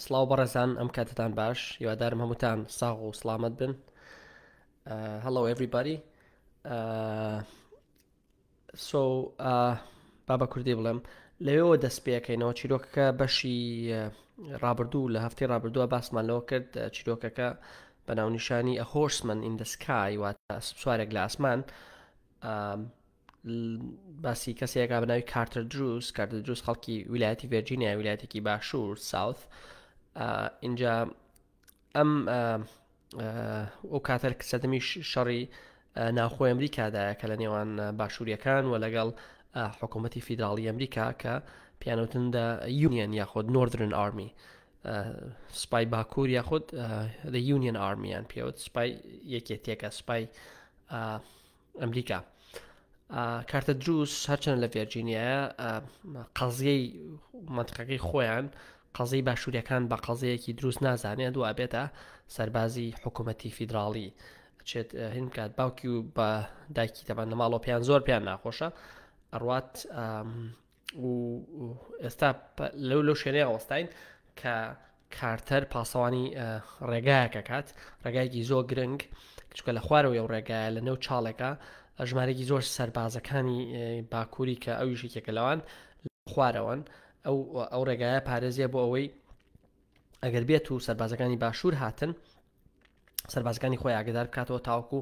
سلااو بەڕێزان ئەم کاتتان باش یوادارم هەمووتان ساغ و سلامت بن هەڵۆ ئەڤریباری سۆ بابە کوردی بڵێم لەوێەوە دەست پێەکەینەوە چیرۆکەکە بەشی ڕابردوو لە هەفتی ڕابردووە باسمان لەوە کرد چیرۆکەکە بە ناونیشانی ئەهۆشمن ئیندسکای واتە سوارێک لە ئاسمان باسی کەسێکا بە ناوی کارتەر دروست کارتە دروست خەڵکی ویلایەتی ڤێرجینیا ویلایەتێکی باشوور ساوت اینجا ئەم ئەو کاتەر سەدەمی شەڕی ناوخۆ ئەمریکادایە کە لە نێوان باشووریەکان و لەگەڵ حکوومەتتی فیدراڵی ئەمریکا کە پیانوتن دە یونیەن یاخود نۆردرن ئارمی سپای باکوور یاخود لە یونیەن ئارمیان پێوت سپای یەکێتێکە سپای ئەمریکا کارتە دروست هەرچەند لە ڤێرجینیایە قەزیەی منتقەکەی خۆیان قەزەی باشووریەکان بە قەزەیەکی دروست نازانێت دو ئابێتە سەربازی حکوومەتتی فیدراڵی چێت هین بکات باوکی و بە دایکی تەبان نەماڵۆ پێیان زۆر پێیان ناخۆشە ئەڕات و ئێستا لەو لەو شوێنەیە ئەوەستین کە کارتەر پاسەوانی ڕێگایەکە کات ڕێگایکی زۆر گرنگ چکە لە خوارەوەی و ڕێگایە لە نەو چاڵێکە ژمارێکی زۆر سەربازەکانی باکووری کە ئەو یشێکێکە لەوان خوارەوەن ئەو ئەو ڕێگایە پارێزیە بۆ ئەوەی ئەگەر بێت و سەربازەکانی باشوور هاتن سەربازەکانی خۆی ئاگدار بکاتەوە تاوکو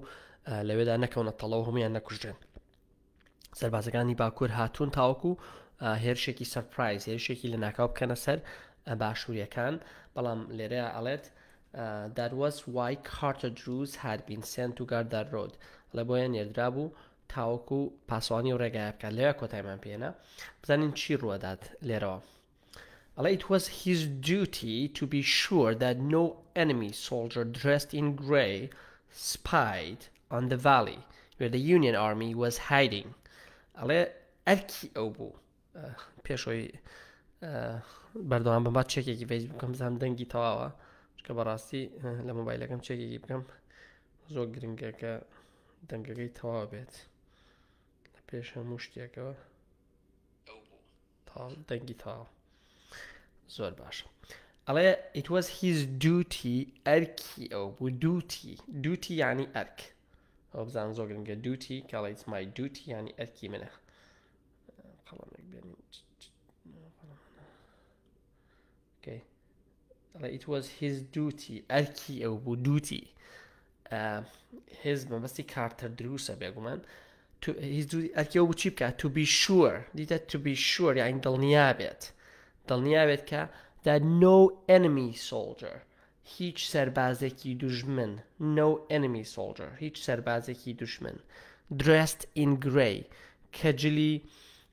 لەوێدا نەکەونە تەڵەوە هەمویان نەکوژێن سەربازەکانی باکوور هاتوون تاوەکو هێرشێکی سەرپایز هێرشێکی لە ناکاو بکەنە سەر باشووریەکان بەڵام لێرەیە ئەڵێت داروەس وای کارتە دروز هاربین سنت و گاردار ڕۆد لە بۆیە نێردرا بوو تاوەکو پاسوانی و ڕێگای بکات لێرە کۆتایمان پێێنە بزانین چی ڕوەدات لێرەوە It was his duty to be sure that no enemy soldier dressed in grey spied on the valley where the Union army was hiding ئەڵێ ئەرکی ئەو بوو پێشەوەی بەردەوام بە بات چێکێکی فەیس بکەم بزانام دەنگی تەواوە چکە بەڕاستی لە مۆبایلەکەم چێکێکی بکەم زۆر گرنگە کە دەنگەکەی تەواو بێت لە پێش هەموو شتێکەوە تەواو دەنگی تەواو زۆر باش ئەڵێ it was his duty ئەرکی ئەو بوو دووتی دووتی ینی ئەرک ئەو بزان زۆر گرنگە دووتی کاڵیت مای دووتی ینی ئەرکی منە قەڵەمێک بێنین بکەی ئەڵێ it was his duty ئەرکی ئەو بوو دووتی هێز مەبەستی کارتەر دروسە بێگومان ئەرکی ئەو بچی بکات to be sure دیتە to be sure یان دڵنیا بێت دڵنیا بێت کە that no enemy soldier هیچ سەربازێکی دوژمن no enemy soldier هیچ سەربازێکی دوژمن dressed in grey کە جلی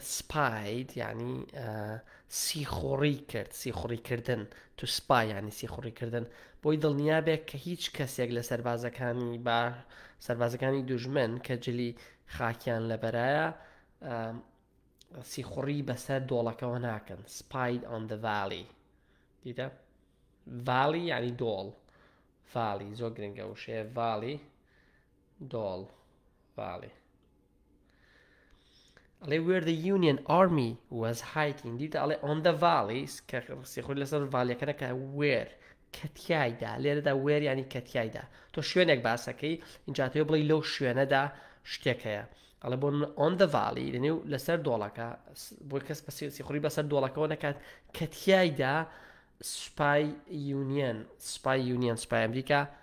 سپاید یعنی سیخوڕی کرد سیخوڕی کردن تو سپا یعنی سیخوڕی کردن بۆی دڵنیابێت کە هیچ کەسێک لە سەربازەکانی با سەربازەکانی دوژمن کە جلی خاکیان لەبەرایە سیخوڕی بەسەر دۆڵەکەەوە ناکەن سپاید ئەن دەڤالی دیدە ڤالی یعنی دۆڵ فاڵی زۆر گرنگە وشەیە ڤالی دۆڵ باڵێ ئەڵێ وێر دە یونیەن ئارمی وەز هایکین دیتە ئەڵێ ئۆندە ڤاڵیس کە سیخۆی لەسەر ڤالەکەە کە وێر کەتیایدا لێرەدا وێر ینی کەتیایدا تۆ شوێنێک باسەکەی اینجاتێ بڵی لەو شوێنەدا شتێک هەیە ئەڵێ بۆ ئۆن دەڤاڵی لەنێو لەسەر دۆڵەکە بۆ کەس بە سیخوری بەسەر دۆڵەکەەوە نەکات کەتیایدا سوپای یونیەن سوپای یونیەن سوپای ئەمریکا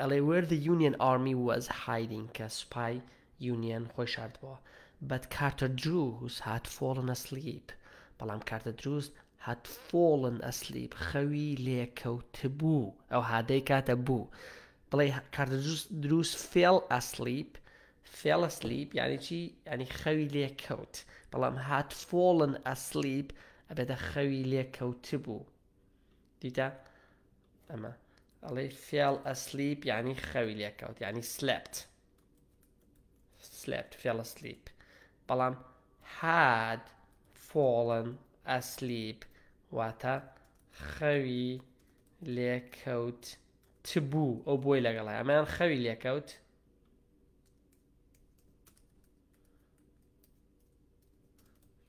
ئەڵێ وێر زە یونیەن ئاڕمی واز هایدینگ کە سوپای یونیەن خۆی شاردبۆوە بەت کارتە درووس هات فۆڵن ئەسلیپ بەڵام کارتە درووس هات فۆڵن ئەسلیپ خەوی لێکەوتبوو ئەو هادەی کاتە بوو بڵێ کارتە درووس فێڵ ئەسلیپ فێڵە سلیپ یعنی چی ینی خەوی لێ کەوت بەڵام هات فۆڵن ئەسلیپ ئەبێتە خەوی لێ کەوت بوو دیتە ئەمە ئەڵێ فێڵ ئەسلیپ یعنی خەوی لێکەوت یعنی سلپت سلپت فێڵە سلیپ بەڵام حاد فۆڵن ئەسلیپ واتە خەوی لێکەوت چ بوو ئەو بۆی لەگەڵ ئەمەیان خەوی لێکەوت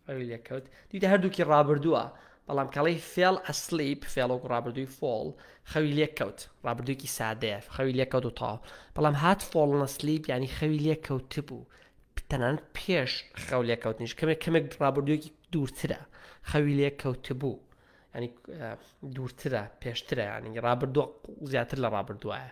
ئەوی لێکەوت دیدە هەردووکی ڕابردووە بەڵام کەڵی فێڵ ئەسلیپ فێڵۆک ڕابردووی فۆڵ خەوی لێکەوت ڕابردووکی سادەیە خەوی لێکەوت و تاو بەڵام هات فۆڵ نەسلیپ ینی خەوی لێکەوت بوو تەنان پێش خەو لێکەوتنیش کەمێک کەمێک ڕابردوویەکی دوورترە خەوی لێکەوت بوو ینی دوورترە پێشترە ینی ڕابردووە زیاتر لە ڕابردوایە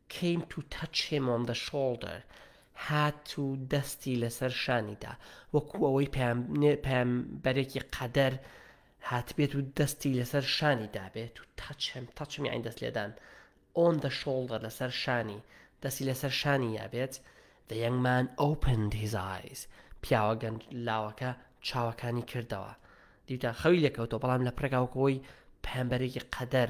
Came to touch him on the shoulder هات و دەستی لەسەر شانی دا، وەکو ئەوەی پەیامبەرێکی قەدەر هاتبێت و دەستی لەسەر شانی دابێت، to touch him، touch him یانی دەست لێدان، on the shoulder لەسەر شانی، دەستی لەسەر شانی یابێت، The young man opened his eyes پیاوە گەنج لاوەکە چاوەکانی کردەوە، دیوتان خەوی لێکەوتەوە، بەڵام لە پڕێکا وەکو ئەوەی پەیامبەرێکی قەدەر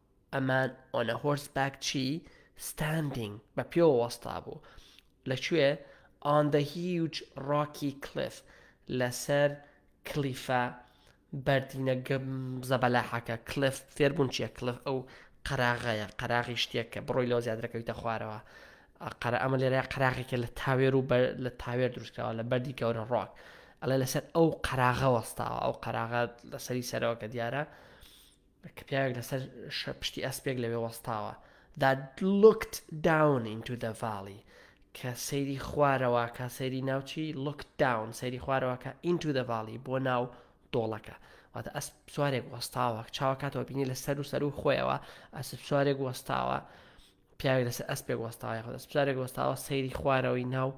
ئەمان ئۆن ئە هۆرس باک چی؟ ستاندینگ، بە پێوە وەستابوو. لە کوێ؟ ئۆن دە هیوج ڕۆکی کلیف، لەسەر کلیفە بەردینە زەبەلاحەکە. کلیف، فێربوون چییە؟ کلیف ئەو قەراغەیە، قەراغی شتێک کە بڕۆی لەوە زیاتر ئەکەویتە خوارەوە. قەرا ئەمە لێرە قەراغێکە لە تاوێر و لە تاوێر دروستکراوە لە بەردی گەورە ڕۆک. ئەڵێ لەسەر ئەو قەراغە وەستاوە، ئەو قەراغە لەسەری سەرەوە کە دیارە. کە پیاوێک لەسەر پشتی ئەسپێک لەوێ وەستاوە that looked down into the valley کە سەیری خوارەوە کە سەیری ناوچی looked down سەیری خوارەوە کە into the valley بۆ ناو دۆڵەکە واتە ئەس سوارێک وەستاوە چاوە کاتەوە بینی لە سەر و سەر و خۆیەوە ئەس سوارێک وەستاوە پیاوێک لەسەر ئەسپێک وەستاوە خۆ سوارێک وەستاوە سەیری خوارەوەی ناو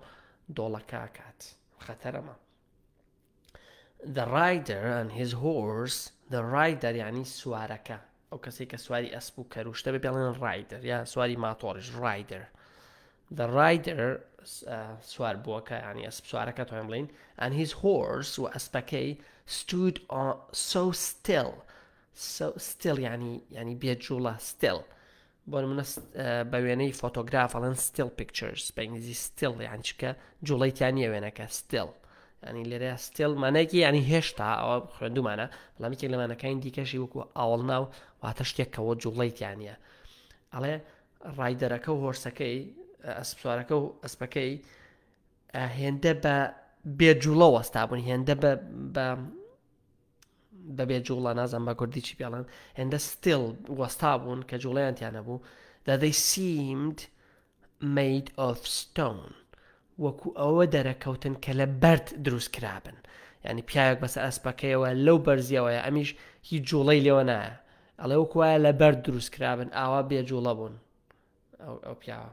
دۆڵەکە کات خەتەرەمە The rider and his horse The rider یعنی سوارەکە ئەو کەسی کە سواری ئەسپ و کەروشتە بە پێڵێن ڕایدر یا سواری ماتۆڕش ڕایدر The rider سوار بووەکە ینی ئەسپ سوارەکە تۆیم بڵین and his horse و ئەسپەکەی stood on so still so still ینی ینی بێجوڵە still بۆ نمونە بە وێنەی فۆتۆگراف ئەڵەن ستیل پیکچرز بە ئینگلیزی ستیل یان چکە جوڵی تیا نیە وێنەکە ستیل ینی لێرە ستیل مانایکی ینی هێشتا ئەوە خوێندومانە بەڵامیکێک لەمانەکانی دیکەشی وەکو ئاوڵ ناو واتە شتێک کەەوە جوڵی تیانە ئەڵێ ڕایدەرەکە و هۆرسەکەی ئەسپسوارەکە و ئەسپەکەی هێندە بە بێجوڵە وەستا بوون هێندە بە بەبێ جوڵە نازانم بە کوردی چی پێڵێن هێندە ستیل وەستا بوون کە جوڵەیان تیا نەبوو that they seemed made of stone وەکو ئەوە دەرەکەوتن کە لە بەرد دروست کرابن ینی پیاوێک بەسە ئەسپەکەیەوە لەو بەرزیەوەیە ئەمیش هی جوڵەی لێوە نایە ئەڵێ وەکوایە لە بەرد دروست کرابن ئاوا بێ جوڵە بوون ئەو پیاوە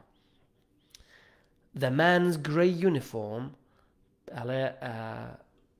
The man's grey uniform ئەڵێ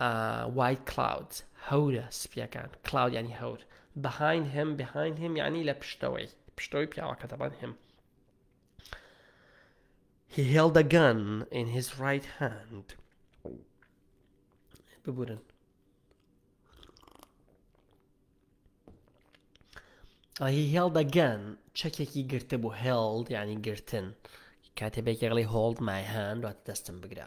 ئا وای کلاود هەورە سپیەکان کلاود یانی هەور بەهاین هێم بەهاین هێم یانی لە پشتەوەی پشتەوەی پیاوەکە دەبان هێم He held a gun in his right hand. ببورن هی هێڵ دەگەن چەکێکی گرتە بوو هێڵد ینی گرتن کاتێ بێکێڵی هۆڵد مایهان دوات دەستم بگرە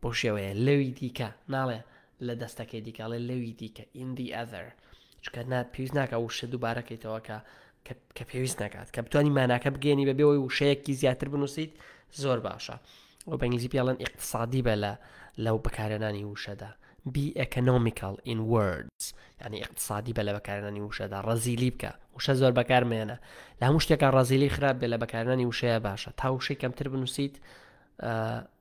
بەو شێوەیە لەوی دیکە ناڵێ لە دەستەکەی دیکە ئەڵێ لەوی دیکە in the other چونکە نا پێویست ناکات وشە دووبارە کەیتەوە کە کە پێویست ناکات کە بتانی ماناکە بگەێنی بەبێ ئەوی وشەیەکی زیاتر بنووسیت زۆر باشە ئەو بەنگلیزی پێڵەن ئیقتصادی بە لە لەو بەکارێنانی وشەدا بی ئەکنۆمیکال in words ینی ئیقتصادی بە لە بەکارێنانی وشەدا ڕزیلی بکە وشە زۆر بەکارمێنە لە هەموو شتێکە ڕزیلی خراپ بێ لە بەکارێنانی وشەیە باشە تا وشەی کەمتر بنووسیت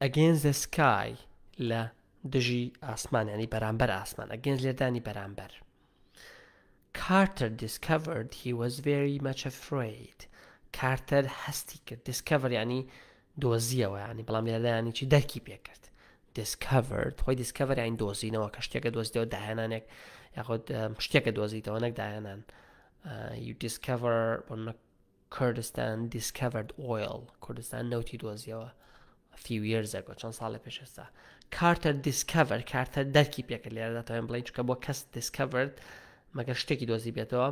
Against the sky لە دژی ئاسمان ینی بەرامبەر ئاسمان ئەگەنج لێدانی بەرامبەر کارتەر دیسکڤرد هی وەز very much afraid کارتەر هەستی کرد دیسکڤر ینی دۆزیەوە ینی بەڵام لێدانی چی دەرکی پێکرد دیسکڤرد خۆی دیسکڤر یان دۆزینەوە کە شتێکە دۆزیەوە داهێنانێک یاخود شتێکە دۆزیتەوە نەک داهێنان you discover Kurdistan discovered oil کوردستان نەوتی دۆزیەوە a few years ago چەند ساڵە پێش ئێستا Carter discovered کارتەر دەرکی پێکرد لێرە دەتوانین بڵین چکە بۆ کەس discovered مەگەر شتێکی دۆزی بێتەوە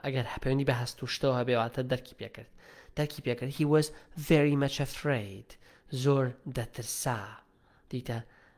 ئەگەر هەپەیوەندی بە هەست و شتەوە هەبێواتە دەرکی پێکرد دەرکی پێکرد هی وەز very much afraid زۆر دەترسا دیتە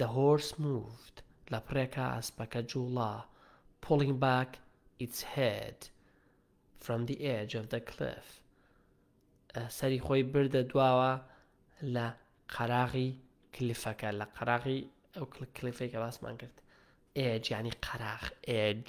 The horse moved لەپڕێکا ئەسپەکە جووڵا Pulling back its head From the edge of the cliff سەری خۆی بردە دواوە لە قەراغی کلیفەکە لە قەراغی ئەو کلیفەی کە باسمان کرد ئێج ینی قەراغ ئێج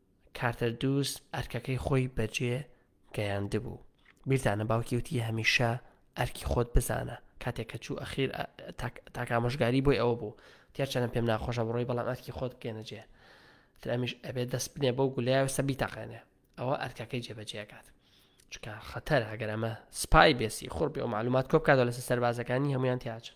کارتەر دووس ئەرکەکەی خۆی بەجێ گەیاندبوو بیرتانە باوکی وتی هەمیشە ئەرکی خۆت بزانە کاتێک کە چوو ئەخیر تاکامۆژگاری بۆی ئەوە بوو تێچەنە پێم ناخۆشە بڕۆی بەڵام ئەرکی خۆت بکەێنەجێ ترامیش ئەبێت دەست بنێ بۆ گولەیە سە بیتەقێنێ ئەوە ئەرکەکەی جێبەجێکات چکە خەتەر ئەگەر ئەمە سپای بێسی خۆر بێ و معلومات کۆ بکاتەوە لەسەر سەربازەکانی هەمویان تیاچن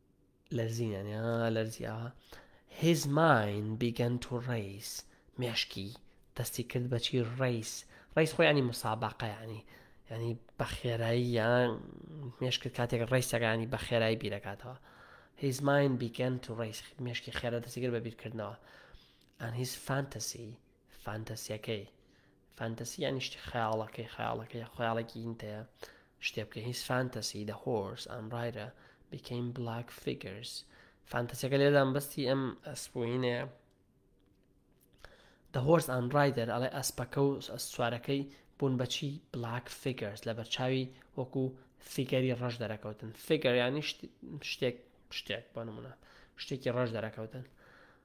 لەرزینیان یا لەرزیاوە His mind began to race مێشکی دەستی کرد بەچی ڕیس ڕیس خۆی ینی مسابقە ینی ینی بە خێرایی یان مێشکرد کاتێک ڕیسەکانی بە خێرایی بیرەکاتەوە His mind began to race مێشکی خێرە دەستی کرد بە بیرکردنەوە and his fantasy فانتەسیەکەی فانتەسی یانی شتی خەیاڵەکەی خەیاڵەکەی خەیاڵێکی ئینتەیە شتێ بکە هیچ فانتەسی دە هۆرس ئەمڕایرە بکەین بلاک فیگرس فانتەسیەکە لێدان بەستی ئەم ئەسپۆینەیە دە هۆرس ئەم ڕایدەر ئەڵێ ئەسپەکە و سوارەکەی بوون بەچی بلاک فیگرس لە بەرچاوی وەکو فیگەری ڕەش دەرەکەوتن فیگەر ینی شتێک شتێک بۆ نمونە شتێکی ڕەش دەرەکەوتن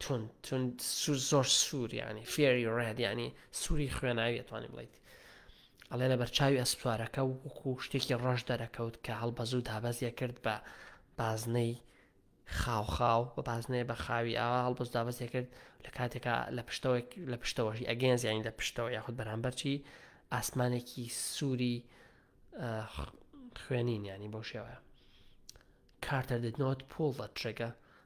توند توند سوور زۆر سوور یعنی فێری ڕێد یعنی سووری خوێناوی توانانی بڵیت ئەڵێ لە بەرچاوی ئەسپارەکە وەکو شتێکی ڕەش دەرەکەوت کە هەڵبەزوو دابەزیە کرد بە بازنەی خاوخاو بە بازنەیە بە خاوی ئاوا هەڵبز دابەزیە کرد لە کاتێکا لە پشتەوەی لە پشتەوەشی ئەگەنز یانی لە پشتەوە یاخود بەرامبەرچی ئاسمانێکی سووری خوێنین ینی بۆ شێوەیە کارتەر دەنۆت پۆڵ بە ترێگە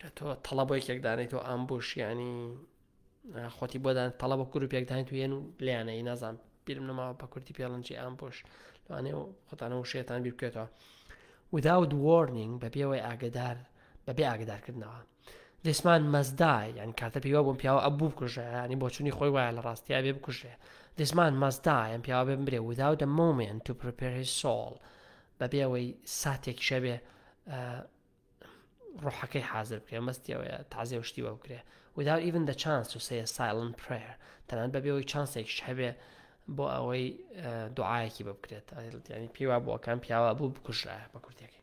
کە تۆ تەڵە بۆ یەکێک دانیت و ئامبوش ینی خۆتی بۆدان تەڵە بە گروپێک داین تو هێن و لیانەی نازان بیرم نەماوە بە کورتی پێڵنجی ئامبوش لەوانێ و خۆتانە و شێتان بیر بکێتەوە without warning بەبێەوەی ئاگدار بەبێ ئاگدارکردنەوە دەسمان مەزدای یان کاتە پێیوا بۆم پیاوە ئە بوو بکوژەیانی بۆچوونی خۆی وایە لە ڕاستیا بێ بکوژێ دەسمان مەزدایان پیاوە بێ برێ without a moment to prepare his soul بەبێ ئەوەی ساتێکیش هەبێ ڕۆحەکەی حازر بکرێ مەستی ئەوەیە تازێ و شتی بە بکرێ without even the chance to say a silent prayer تەنان بەبێ ئەوەی چانسێکیش هەبێ بۆ ئەوەی دوعاەکی بە بکرێت ینی پێیوا بۆکان پیاوە بوو بکوژرایە بە کوردەکەی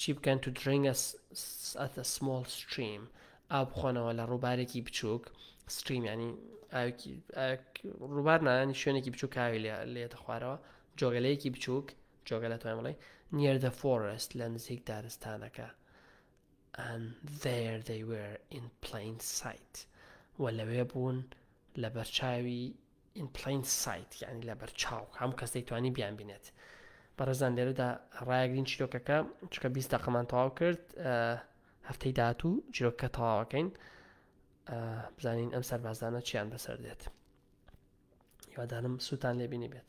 چی بکەن to drink at a small stream ئاو بخۆنەوە لە ڕووبارێکی بچووک ستریم ینی ڕووبار نانی شوێنێکی بچوو کاوی لێتە خوارەوە جۆگەلەیەکی بچووک جۆگە لە توانڵێ نیەر دە فۆرست لە نزیک دارستانەکە and there they were in plain sight و لەوێ بوون لە بەرچاوی In plain sight یانی لەبەرچاو هەموو کەس دەیتوانی بیانبینێت بەڕێزان لێرەدا ڕایگرین چیرۆکەکە چکە بیست دەقەمان تەواو کرد هەفتەی داهاتوو چیرۆکە تەواوەکەین بزانین ئەم سەربازانە چیان بەسەر دێت هیوادارم سووتان لێبینی بێت